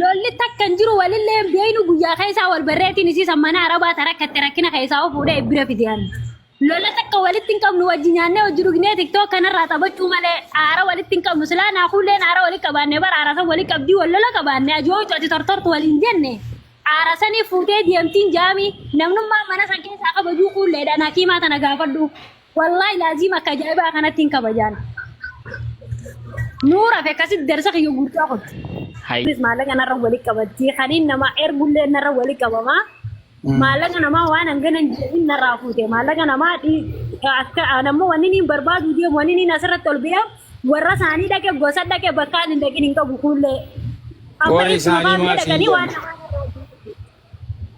Lolli takka hin jiru walillee hin beeynu guyyaa keessaa wal barreetiin isii sammana arabaa tara akkatti rakkina keessaa of fuudhee bira fideen. Lola takka walitti hin qabnu wajji nyaannee wajji dhugnee tiktook kanarraa taphachuu malee aara walitti hin qabnu silaa naakuulleen aara walitti qabaannee bara aara san walitti qabdii wal lola qabaannee ajoo coti tortortu waliin jenne. Aara sanii fuutee deemtiin jaamii namnummaa mana san keessaa kabajuu kuulleedhaan hakiimaa tana gaafadhu. Wallaahi laaziim akka ajaa'ibaa kanatti hin kabajaan. Nuura fi akkasitti darsa kiyya guutuu kun. Hay. Kunis maallaqa narra wali qabatti. Kaniin nama ergullee narra wali qabama. Maallaqa namaa waan hangana hin jedhin narraa fuute. Maallaqa namaa dhi- akka aan ammoo wanni niin barbaadu deemu wanni niin asirratti ol ba'e warra isaanii dhaqe gosa dhaqe bakkaan hin dhaqin hin qabu kuullee. Amma Warri ibsuma isaanii baafnee maal siin dhaqanii waan jedhan? namaa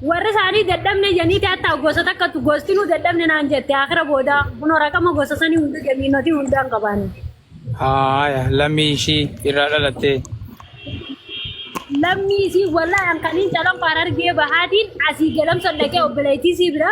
Warri isaanii dadhabne janiiti hatta gosa takkattu gostinuu dadhabne naan jette akira booda kunoo rakama gosa sanii hunda jamiinotii hundaa hin qabaanne. Haaya lammii ishii irraa dhalattee. Lammii isii wallahi an kaniin calanqo harargee bahaatiin asii galamsan dhaqee obboleettii isii bira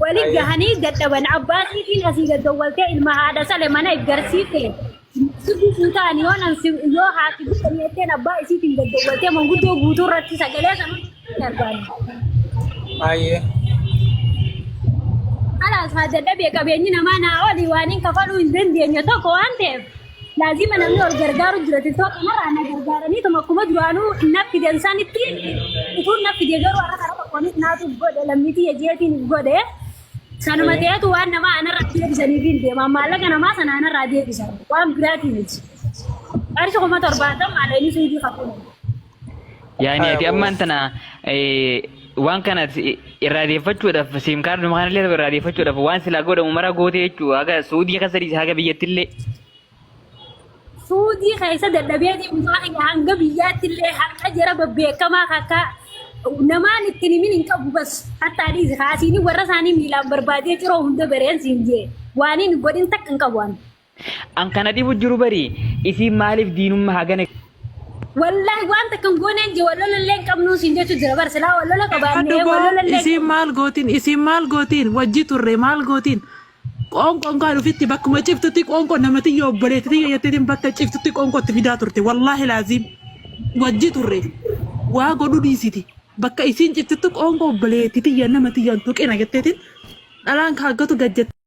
Wali gahanii dadhaban abbaa siitiin asii gaggawwaltee ilma haadha sale mana iggarsiifte sirbi fuutaan yoo nan si yoo haati guutan jetteen abbaa isiitiin gaggawwaltee manguddoo guutuu irratti sagalee sana hin argaani. Ayyee. Alaas haa dadhabee qabeenyi namaa naa olii waan hin kafaluu hin dandeenye tokko waan ta'eef laazima namni ol gargaaru jira tiktoo kanarraa na gargaaranii tuma akkuma duraanuu na fidan sanitti utuun na fide garuu har'a karaa tokkoonis naatu godhe lammitii yajeetiin godhe sanuma ta'etu waan namaa anarraa deebisaniif hin deema maallaqa namaa sana anarraa deebisan waan biraatiin miti qarshi kuma torbaatan maallaqni suudii kakuu Yaani ati ammaan tana waan kana irraa deeffachuudhaaf siim kaardii makaan illee irraa deeffachuudhaaf waan silaa godhamu mara gootee jechuudha haga suudii keessa dhiise haga biyyatti illee. Suudii keessa dadhabee deemusaa kiyya hanga biyyaatti illee harka jara babbeekamaa akka namaan ittiin himin hin qabu bas hattaa dhiise kaasiin warra isaanii miilaan barbaadee ciroo hunda bareen siin jee waaniin godhin takka hin qabu ani. An kana dhibu jiru bari isiin maaliif diinumma hagana Wallahi waan takka hin gooneen je wallola illee hin qabnuu siin jechuu jira bar silaa wallola qabaannee Kadhuboo wallola illee isiin maal gootiin isiin maal gootiin wajji turre maal gootiin qoonqoon kaan ofitti bakkuma ciftutti qoonqoo namati yoo obboleetti tiyya jetteetiin bakka ciftutti qoonqootti fidaa turte wallaahi laaziim wajji turre waa godhu dhiisiti bakka isiin ciftutti qoonqoo obboleetti tiyya nama tiyyaan tuqina jetteetiin dhalaan kaaggatu gad jette.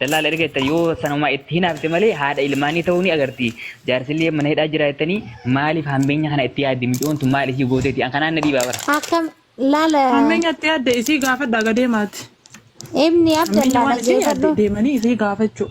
Dallaala erga jettani yoo sanuma itti hinaafte malee haadha ilmaanii ta'uu ni agarti. Jaarsillee mana hidhaa jira jettanii maaliif hammeenya kana itti yaaddi miciyoon tun maal isii gooteeti an kanaan na dhiibaa bara. Akkam laala. Hammeenya itti yaadde isii gaafadhaa ga deemaati. Ibni Hammeenya Abdallah waan isii yaadde dhageefadhu. deemanii isii gaafachuu.